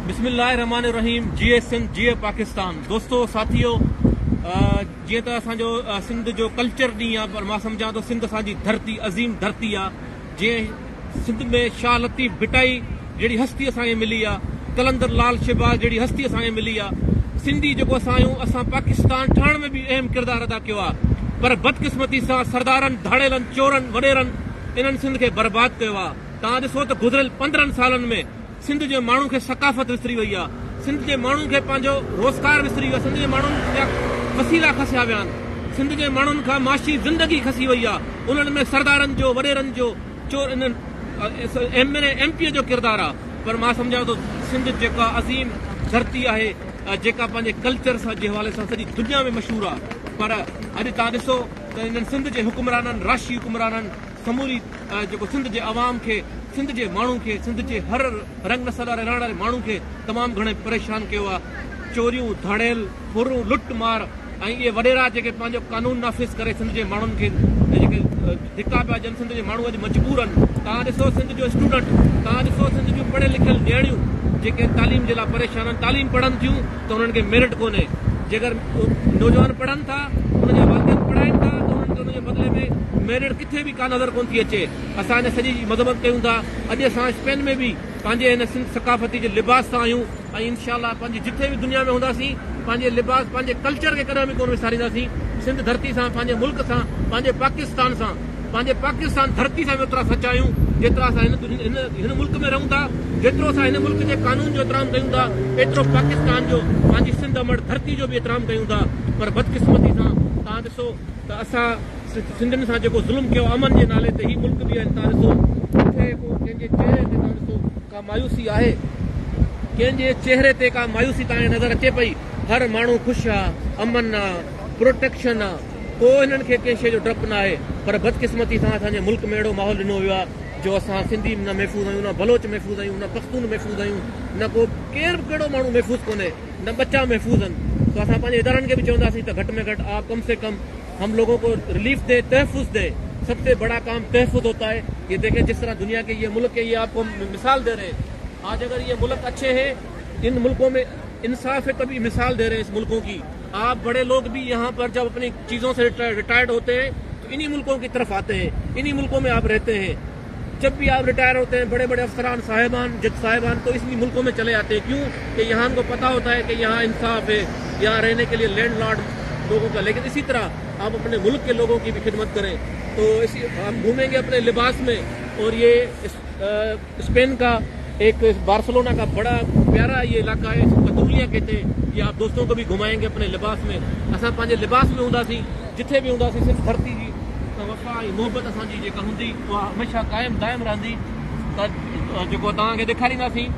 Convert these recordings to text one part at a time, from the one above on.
بسم الله الرحمٰن الرحيم جيئي سنڌ جيئي پاڪستان دوستو ساٿيو جيئن ته اسان جو سنڌ جو ڪلچر ڏينهن آ پر مان سمجهان ٿو سنڌ اسان جي ڌرتي عظيم ڌرتي آ جي سنڌ ۾ شاهه لطيف ڀٽائي جهڙي هستي اسان کي ملي آ قلندر لال شهباز جهڙي هستي اسان کي ملي آ سنڌي جيڪو اسان آهيون اسان پاڪستان ٺاهڻ ۾ به اهم ڪردار ادا ڪيو آ پر بدقسمتي سان سردارن ڌاڙيلن چورن وڏيرن انهن سنڌ کي برباد ڪيو آ توهان ڏسو ته گذريل پندرهن سالن ۾ سنڌ جي ماڻهن کي ثقافت وسري وئي آهي، سنڌ جي ماڻهن کي پنهنجو روزگار وسري ويو آهي، سنڌ جي ماڻهن جا وسيلا کسيا ويا آهن، سنڌ جي ماڻهن کان معاشي زندگي کسي وئي آهي، انهن ۾ سردارن جو، وڏيرن جو، چور انهن M N A, M P A جو ڪردار آهي، پر مان سمجهان ٿو سنڌ جيڪا عظيم ڌرتي آهي جيڪا پنهنجي ڪلچر سان جي حوالي سان سڄي دنيا ۾ مشهور آهي پر اڄ توهان ڏسو ته انهن سنڌ جي حڪمرانن، راشي حڪمرانن، سموري جيڪو سنڌ جي عوام کي سنڌ جي ماڻهن کي سنڌ جي هر رنگ نسل واري رهڻ واري ماڻهن کي تمام گهڻي پريشان ڪيو آ چوريون ڌاڙيل ڦرون لٽ مار ۽ اهي وڏيرا جيڪي پنهنجو قانون نافذ ڪري سنڌ جي ماڻهن کي جيڪي ڌڪا پيا ڏين سنڌ جي ماڻهو اڄ مجبور آهن توهان ڏسو سنڌ جو اسٽوڊنٽ توهان ڏسو سنڌ جون پڙهيل لکيل نياڻيون جيڪي تعليم جي لاء پريشان آهن تعليم پڙهن ٿيون ته انهن کي ميرٽ ڪونهي، جيڪر نوجوان پڙهن ٿا، انهن جا والدين پڙهائين ٿا ته انهن کي ان جي بدلي ۾ ميرٽ ڪٿي به ڪا نظر ڪونه ٿي اچي، اسان ان سڄي جي مذمت ڪيون ٿا، اڄ اسان اسپين ۾ به پنهنجي هن سنڌ ثقافتي جي لباس سان آهيون ۽ انشاء الله پنهنجي جٿي به دنيا ۾ هونداسين پنهنجي لباس پنهنجي ڪلچر کي ڪڏهن به ڪونه وسارينداسين، سنڌ ڌرتي سان پنهنجي ملڪ سان پنهنجي پاڪستان سان. پنهنجي پاڪستان ڌرتي سان به اوترا سچا آهيون جيترا اسان هن ملڪ ۾ رهون ٿا، جيترو اسان هن ملڪ جي قانون جو احترام ڪيون ٿا ايترو پاڪستان جو پنهنجي سنڌ امڙ ڌرتي جو به احترام ڪيون ٿا پر بدقسمتي سان توهان ڏسو ته اسان سنڌين سان جيڪو ظلم ڪيو امن جي نالي تي هي ملڪ به توهان ڏسو ڪٿي ڪو ڪنهن جي چهري تي توهان ڏسو ڪا مايوسي آهي ڪنهن جي چهري تي ڪا مايوسي توهان کي نظر اچي پئي هر ماڻهو خوش آ امن آ پروٽيڪشن آ ڪو هنن کي ڪنهن شيء جو ڊپ ناهي پر بدقسمتي سان اسان جي ملڪ ۾ اهڙو ماحول ڏنو ويو آهي جو اسان سنڌي نه محفوظ آهيون نه بلوچ محفوظ آهيون نه پختون محفوظ آهيون نه ڪو ڪير به ڪهڙو ماڻهو محفوظ ڪونهي نه ٻچا محفوظ آهن سو اسان پنهنجي ادارن کي به چونداسين ته گهٽ ۾ گهٽ آپ ڪم سي ڪم هم لوگون ڪو رليف دين تحفظ دين سب سي بڙا ڪام تحفظ هوتا هي يي ديکين جس طرح دنيا ڪي يي ملڪ يي آپ ڪو هم مثال دي رهي هين آج اگر يي ملڪ اڇي هين ان ملڪون ۾ انصاف هي تبهي مثال دي رهي هين اس ملڪون ڪي آپ بڙي لوگ بي يهان پر جب اپني چيزون سي رٽائرڊ هوتي هين تو انهي ملڪون ڪي طرف آتي هين انهي ملڪون مين آپ رهتي هين جب بي آپ رٽائر هوتي هين بڙي بڙي افسران صاحبان جج صاحبان تو انهي ملڪون مين چلي آتي هين ڪيون ڪي يهان ڪو پتا هوتا هين ڪي يهان انصاف هين يهان رهني ڪي لئي لينڊ لارڊ لوگون ڪا ليڪن اسي طرح آپ اپني ملڪ ڪي لوگون ڪي بي خدمت ڪرين تو اسي هم گهومين گي اپني لباس مين اور يي اسپين ڪا ايڪ بارسلونا ڪا بڙا پيارا يي علاقا هي ڪتوليا ڪهتي يي آپ دوستون ڪو ڀي گهمائين گي اپني لباس مين اسان پنهنجي لباس مين هوندا سين جٿي ڀي هوندا سين سنڌ ڌرتي جي وفا ۽ محبت اسان جي جيڪا هوندي اها هميشه قائم دائم رهندي ته جيڪو توهان کي ڏيکاريندا سين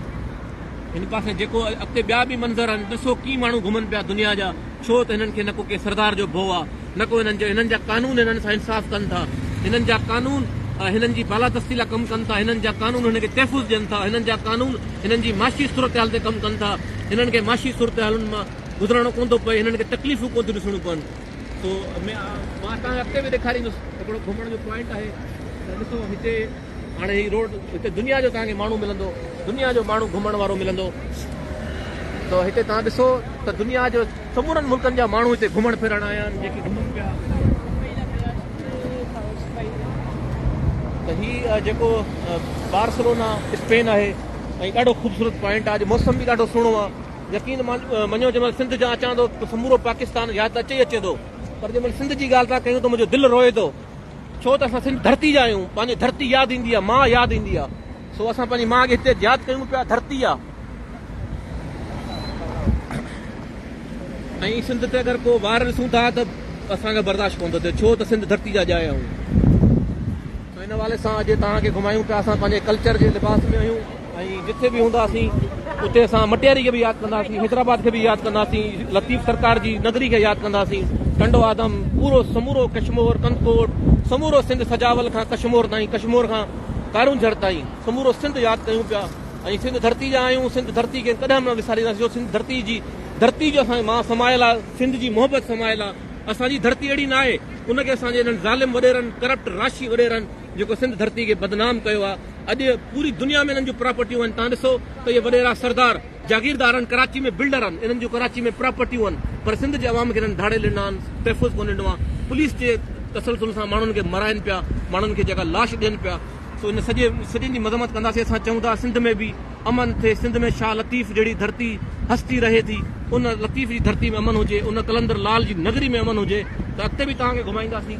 هن پاسي جيڪو اڳتي ٻيا ڀي منظر آهن ڏسو ڪي ماڻهو گهمن پيا دنيا جا. ڇو ته هنن کي نه ڪو ڪنهن سردار جو ڀو آ نه ڪو هنن جو هنن جا قانون هنن سان انصاف ڪن ٿا هنن جا قانون هنن جي بالادستي لا ڪم ڪن ٿا هنن جا قانون هنن کي تحفظ ڏين ٿا هنن جا قانون هنن جي معاشي صورتحال تي ڪم ڪن ٿا هنن کي معاشي صورتحالن مان گذرڻو ڪون ٿو پئي هنن کي تڪليفون ڪون ٿيون ڏسڻيون پون سو مان تان کي اڳتي به ڏيکاريندس هڪڙو گهمڻ جو پوائنٽ آهي ته ڏسو هتي هاڻي هي روڊ هتي دنيا جو توهان کي ماڻهو ملندو دنيا جو ماڻهو گهمڻ وارو ملندو ته هتي توهان ڏسو ته دنيا جو سمورن ملڪن جا ماڻهو هتي گهمڻ ڦرڻ آيا آهن جيڪي گهمن پيا ته هي جيڪو بارسلونا اسپين آهي ۽ ڏاڍو خوبصورت پوائنٽ آهي اڄ موسم به ڏاڍو سهڻو آهي يقين مڃو جنهن مهل سنڌ جا اچان ٿو ته سمورو پاڪستان ياد اچي اچي ٿو پر جنهن مهل سنڌ جي ڳالهه ٿا ڪيون ته منهنجو دل روئي ٿو ڇو ته اسان سنڌ ڌرتي جا آهيون پنهنجي ڌرتي ياد ايندي آهي ماء ياد ايندي آهي سو اسان پنهنجي ماء کي هتي ياد ڪيون پيا ڌرتي آهي ۽ سنڌ تي اگر ڪو وار ڏسون ٿا ته اسان کي برداشت ڪون ٿو ٿئي ڇو ته سنڌ ڌرتي جا ڄائي آهيون سو ان حوالي سان اڄ توهان کي گهمايون پيا اسان پنهنجي ڪلچر جي لباس ۾ آهيون ۽ جتي به هونداسين اتي اسان مٽياري کي به ياد ڪنداسين حيدرآباد کي به ياد ڪنداسين لطيف سرڪار جي نگري کي ياد ڪنداسين ٽنڊو آدم پورو سمورو ڪشمور ڪنڌڪوٽ سمورو سنڌ سجاول کان ڪشمور تائين ڪشمور کان ڪارونجهر تائين سمورو سنڌ ياد ڪيون پيا ۽ سنڌ ڌرتي جا آهيون سنڌ ڌرتي کي ڪڏهن به نه وسارينداسين جو سنڌ ڌرتي جي ڌرتي جو اسان مان سمايل آ سنڌ جي محبت سمايل آ اسان جي ڌرتي اهڙي نه آهي ان کي اسان جي انهن ظالم وڏيرن ڪرپٽ راشي وڏيرن جيڪو سنڌ ڌرتي کي بدنام ڪيو آ اڄ پوري دنيا ۾ انهن جون پراپرٽيون آهن، توهان ڏسو ته اهي وڏيرا سردار، جاگيردار آهن، ڪراچي ۾ بلڊر آهن، انهن جون ڪراچي ۾ پراپرٽيون آهن، پر سنڌ جي عوام کي انهن ڌاڙيل ڏنا آهن، تحفظ ڪونه ڏنو آهي، پوليس جي تسلسل سان ماڻهن کي مارائن پيا، ماڻهن کي جيڪا لاش ڏين پيا، سو ان سڄي سڄن جي مذمت ڪنداسين، اسان چئون ٿا سنڌ ۾ به امن ٿئي، سنڌ ۾ شاهه لطيف جهڙي ڌرتي هستي رهي ٿي، ان لطيف جي ڌرتي ۾ امن هجي، ان قلندر لال جي نگري ۾ امن هجي ته اڳتي به توهان کي گهمائينداسين.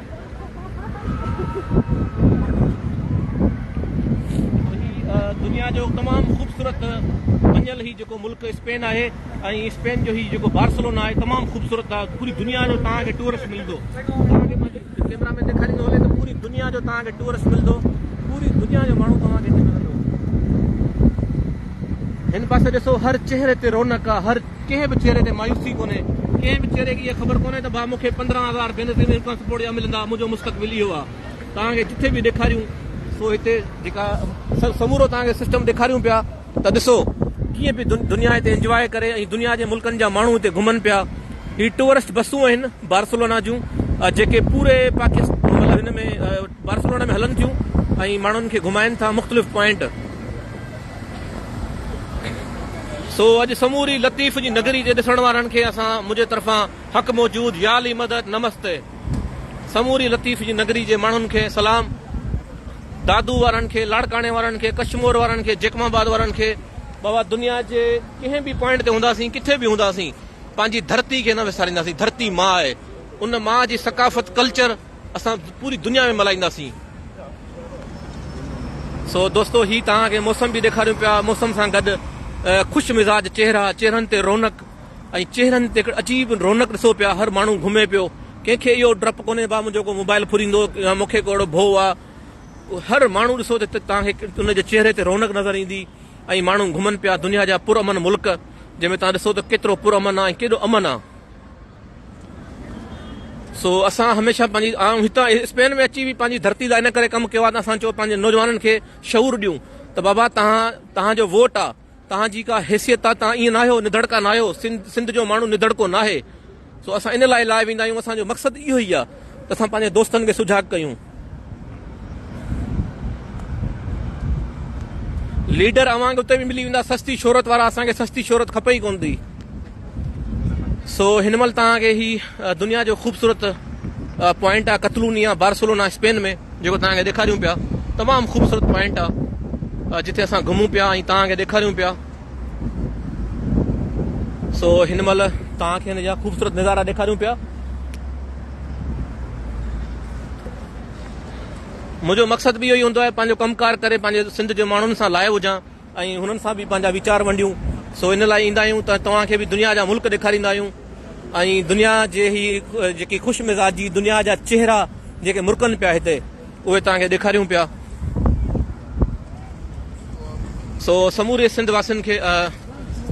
دنيا جو تمام خوبصورت بنيل هي جيڪو ملڪ اسپين آهي ۽ اسپين جو هي جيڪو بارسلونا آهي تمام خوبصورت آهي پوري دنيا جو تان کي ٽورسٽ ملندو ڪيمرا ۾ ڏيکاري ٿو هلي ته پوري دنيا جو تان کي ٽورسٽ ملندو پوري دنيا جو ماڻهو تان کي ملندو هن پاسي ڏسو هر چهري تي رونق آهي هر ڪنهن به چهري تي مايوسي ڪونهي، ڪنهن به چهري کي اها خبر ڪونهي ته ڀا مون کي پندرهن هزار بينظير انڪم سپورٽ جا ملندا، منهنجو مستقبل اهو آهي، توهان کي جتي به ڏيکاريون، سو هتي جيڪا سمورو توهان کي سسٽم ڏيکاريون پيا ته ڏسو، ڪيئن پئي دنيا هتي انجواء ڪري ۽ دنيا جي ملڪن جا ماڻهو هتي گهمن پيا، هي ٽوئرسٽ بسون آهن بارسلونا جون جيڪي پوري پاڪستان مطلب هن ۾ بارسلونا ۾ هلن ٿيون ۽ ماڻهن کي گهمائن ٿا مختلف پوائنٽ. سو اڄ سموري لطيف جي نگري جي ڏسڻ وارن کي اسان منهنجي طرفان حق موجود يالي مدد نمستي سموري لطيف جي نگري جي ماڻهن کي سلام دادو وارن کي لاڙڪاڻي وارن کي ڪشمور وارن کي جيڪم آباد وارن کي بابا دنيا جي ڪنهن به پوائنٽ تي هونداسين ڪٿي به هونداسين پنهنجي ڌرتي کي نه وسارينداسين ڌرتي ماء آهي ان ماء جي ثقافت ڪلچر اسان پوري دنيا ۾ ملهائينداسين. سو دوستو هي توهان کي موسم به ڏيکاريون پيا موسم سان گڏ خوش مزاج چهرا چهرن تي رونق ۽ چهرن تي هڪڙي عجيب رونق ڏسو پيا هر ماڻهو گهمي پيو ڪنهن کي اهو ڊپ ڪونهي ڀا منهنجو ڪو موبائل ڦريندو يا مون کي ڪو اهڙو ڀو آ هر ماڻهو ڏسو ته توهان کي ان جي چهري تي رونق نظر ايندي ۽ ماڻهو گهمن پيا دنيا جا پر امن ملڪ جنهن ۾ توهان ڏسو ته ڪيترو پر امن آ ۽ ڪيڏو امن آ سو اسان هميشه پنهنجي آئون هتان اسپين ۾ اچي به پنهنجي ڌرتي لاء ان ڪري ڪم ڪيو آهي ته اسان چيو پنهنجي نوجوانن کي شعور ڏيون ته بابا تهان تهان جو ووٽ آهي تهان جي ڪا حيثيت آهي تهان ائين ناهيو نڌڙڪا ناهيو سنڌ سنڌ جو ماڻهو نڌڙڪو ناهي سو اسان ان لاء لاء ويندا آهيون اسان جو مقصد اهو ئي آهي ته اسان پنهنجي دوستن کي سجاڳ ڪيون ليڊر اوهان کي اتي به ملي ويندا سستي شهرت وارا اسان کي سستي شهرت کپي ئي ڪون ٿي سو هن مهل توهان کي هي دنيا جو خوبصورت پوائنٽ آ قتلونيا بارسلونا اسپين ۾ جيڪو توهان کي ڏيکاريون پيا تمام خوبصورت پوائنٽ آ جتي اسان گهمون پيا ۽ توهان کي ڏيکاريون پيا سو هن مهل توهان کي هن جا خوبصورت نظارا ڏيکاريون پيا منهنجو مقصد به اهو ئي هوندو آهي پنهنجو ڪم ڪار ڪري پنهنجي سنڌ جي ماڻهن سان لائيو هجان ۽ هنن سان به پنهنجا ويچار ونڊيون سو ان لاء ايندا آهيون ته توهان کي به دنيا جا ملڪ ڏيکاريندا آهيون ۽ دنيا جي هي جيڪي خوش مزاجي دنيا جا چهرا جيڪي مرڪن پيا هتي اهي توهان کي ڏيکاريون پيا. سو سموري سنڌ واسين کي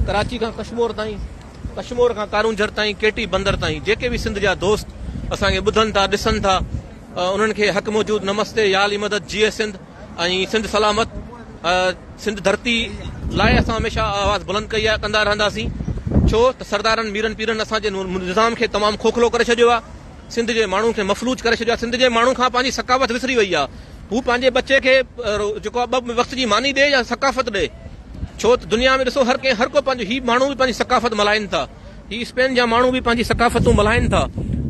ڪراچي کان ڪشمور تائين ڪشمور کان ڪارونجھر تائين ڪي ٽي بندر تائين جيڪي به سنڌ جا دوست اسان کي ٻڌن ٿا ڏسن ٿا انهن کي حق موجود نمستي يا علي مدد جي اي سنڌ ۽ سنڌ سلامت سنڌ ڌرتي لاء اسان هميشه آواز بلند ڪئي آهي ڪندا رهنداسين ڇو ته سردارن ميرن پيرن اسان جي نظام کي تمام کوکلو ڪري ڇڏيو آهي سنڌ جي ماڻهن کي مفلوج ڪري ڇڏيو آهي سنڌ جي ماڻهن کان پنهنجي ثقافت وسري وئي آهي هو پنهنجي ٻچي کي جيڪو آهي ٻه وقت جي ماني ڏي يا ثقافت ڏي ڇو ته دنيا ۾ ڏسو هر ڪنهن هر ڪو پنهنجو هي ماڻهو به پنهنجي ثقافت ملهائين ٿا هي اسپين جا ماڻهو به پنهنجي ثقافتون ملهائين ٿا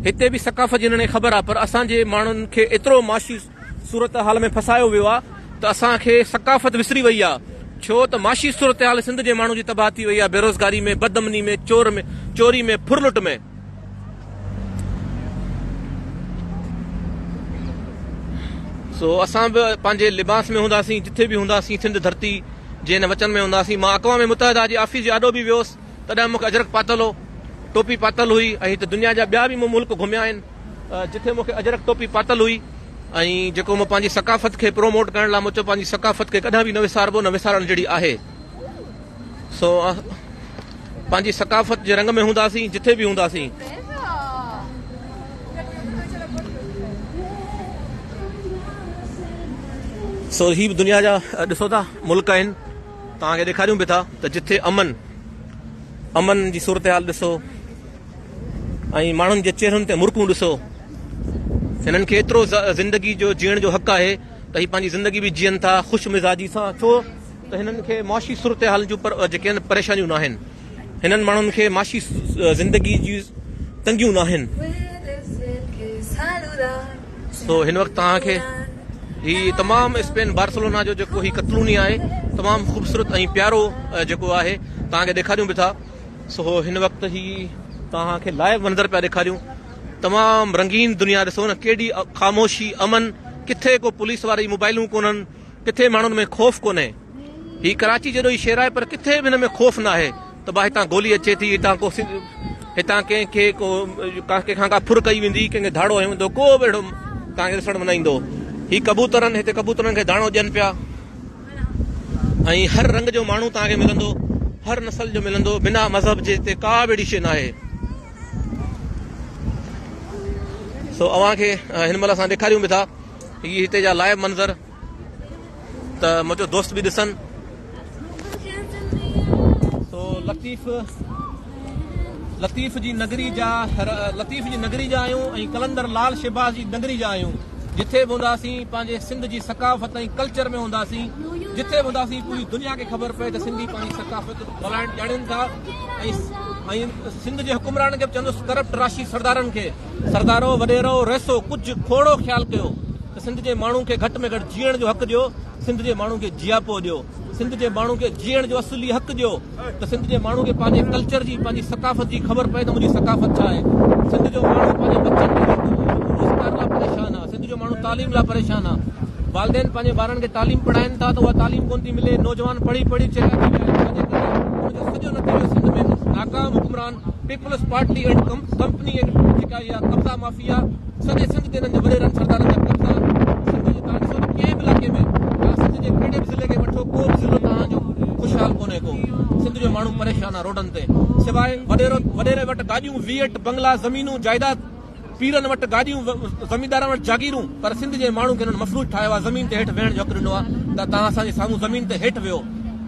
هتي به ثقافت جي هنن کي خبر آهي پر اسان جي ماڻهن کي ايترو معاشي صورتحال ۾ ڦسايو ويو آ ته اسان کي ثقافت وسري وئي آ ڇو ته معاشي صورتحال سنڌ جي ماڻهو جي تباهه ٿي وئي آ بيروزگاري ۾ بد امني ۾ چور ۾ چوري ۾ ڦر لٽ ۾. سو اسان به پنهنجي لباس ۾ هونداسين جٿي به هونداسين سنڌ ڌرتي جي هن وچن ۾ هونداسين مان اقوام متحده جي آفيس جي آڏو به ويوس تڏهن مون کي اجرڪ پاتل هو، ٽوپي پاتل هئي ۽ هت دنيا جا ٻيا به مون ملڪ گهميا آهن جتي مون کي اجرڪ ٽوپي پاتل هئي ۽ جيڪو مون پنهنجي ثقافت کي پروموٽ ڪرڻ لاء مون چيو پنهنجي ثقافت کي ڪڏهن به نه وساربو نه وسارڻ جهڙي آهي سو پنهنجي ثقافت جي رنگ ۾ هونداسين جتي به هونداسين سو هي به دنيا جا ڏسو ٿا ملڪ آهن توهان کي ڏيکاريون به ٿا ته جتي امن امن جي صورتحال ڏسو ۽ ماڻهن جي چهرن تي مرڪون ڏسو هنن کي ايترو زندگي جو جيئڻ جو حق آهي ته هي پنهنجي زندگي به جيئن ٿا خوش مزاجي سان ڇو ته هنن کي معاشي صورتحال جون جيڪي پريشانيون ناهن هنن ماڻهن کي معاشي زندگي جون تنگيون ناهن. سو هن وقت توهان کي هي تمام اسپين بارسلونا جو جيڪو هي ڪتلوني آهي تمام خوبصورت ۽ پيارو جيڪو آهي توهان کي ڏيکاريون به ٿا سو هن وقت هي توهان کي لائيو منظر پيا ڏيکاريون تمام رنگين دنيا ڏسو نه ڪيڏي خاموشي امن ڪٿي ڪو پوليس واري موبائلون ڪونهن ڪٿي ماڻهن ۾ خوف ڪونهي. هي ڪراچي جيڏو ئي شهر آهي پر ڪٿي به هن ۾ خوف ناهي ته ڀا هتان گولي اچي ٿي هتان ڪو هتان ڪنهن کي ڪو ڪنهن کان ڪا ڦر ڪئي ويندي ڪنهن کي ڌاڙو هيو ويندو ڪو به اهڙو تان کي ڏسڻ ۾ نه ايندو هي ڪبوترن هتي ڪبوترن کي داڻو ڏين پيا ۽ هر رنگ جو ماڻهو تان کي ملندو هر نسل جو ملندو بنا مذهب جي هتي ڪا به اهڙي شي ناهي سو اوهان کي هن مهل اسان ڏيکاريون به ٿا هي هتي جا لائيو منظر ته منهنجو دوست به ڏسن. سو لطيف لطيف جي نگري جا لطيف جي نگري جا آهيون ۽ قلندر لال شهباز جي نگري جا آهيون جٿي به هونداسين پنهنجي سنڌ جي ثقافت ۽ ڪلچر ۾ هونداسين جٿي به هونداسين پوري دنيا کي خبر پئي ته سنڌي پنهنجي ثقافت ڀلائڻ ڄاڻين ٿا ۽ سنڌ جي حڪمرانن کي به چوندس ڪرپٽ راشي سردارن کي سردارو، وڏيرو، رئيسو ڪجهه کوڙو خيال ڪيو ته سنڌ جي ماڻهو کي گهٽ ۾ گهٽ جيئڻ جو حق ڏيو، سنڌ جي ماڻهو کي جياپو ڏيو، سنڌ جي ماڻهو کي جيئڻ جو اصولي حق ڏيو ته سنڌ جي ماڻهو کي پنهنجي ڪلچر جي، پنهنجي ثقافت جي خبر پئي ته منهنجي ثقافت ڇا آهي، سنڌ جو ماڻهو پنهنجي ٻچن جي روزگار لاء پريشان آهي، سنڌ جو ماڻهو تعليم لاء پريشان آهي، والدين پنهنجي ٻارن کي تعليم پڙهائين ٿا ته اها تعليم ڪونه ٿي ملي، نوجوان پڙهي پڙهي چيلا ٿي ويا آهن، جنهن جي ڪري ان جو سڄو نتيجو سنڌ ۾ ناڪام حڪمران. Peoples Party and company and جيڪا اها قبضا مافيا سڄي سنڌ تي انهن جي وڏيرن سردارن جا قبضا سنڌ جي تان ڏسو ته ڪنهن به علائقي ۾ يا سنڌ جي ڪهڙي به ضلعي کي وٺو ڪو به ضلعو توهان جو خوشحال ڪونهي ڪو سنڌ جو ماڻهو پريشان آ روڊن تي سواء وڏيري وٽ گاڏيون ويئٽ بنگلا زمينون جائيداد پيرن وٽ گاڏيون، زميندارن وٽ جاگيرون پر سنڌ جي ماڻهن کي انهن مفلوج ٺاهيو آهي، زمين تي هيٺ ويهڻ جو حق ڏنو آهي ته توهان اسان جي سامهون زمين تي هيٺ ويهو،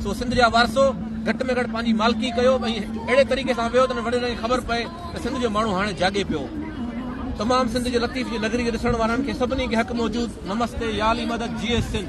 سو سنڌ جا وارثو گهٽ ۾ گهٽ پنهنجي مالڪي ڪيو ۽ اهڙي طريقي سان ويهو ته انهن وڏيرن کي خبر پئي ته سنڌ جو ماڻهو هاڻي جاڳي پيو. تمام سنڌ جي لطيف جي نگري جي ڏسڻ وارن کي سڀني کي حق موجود نمستي يا علي مدد جئي سنڌ.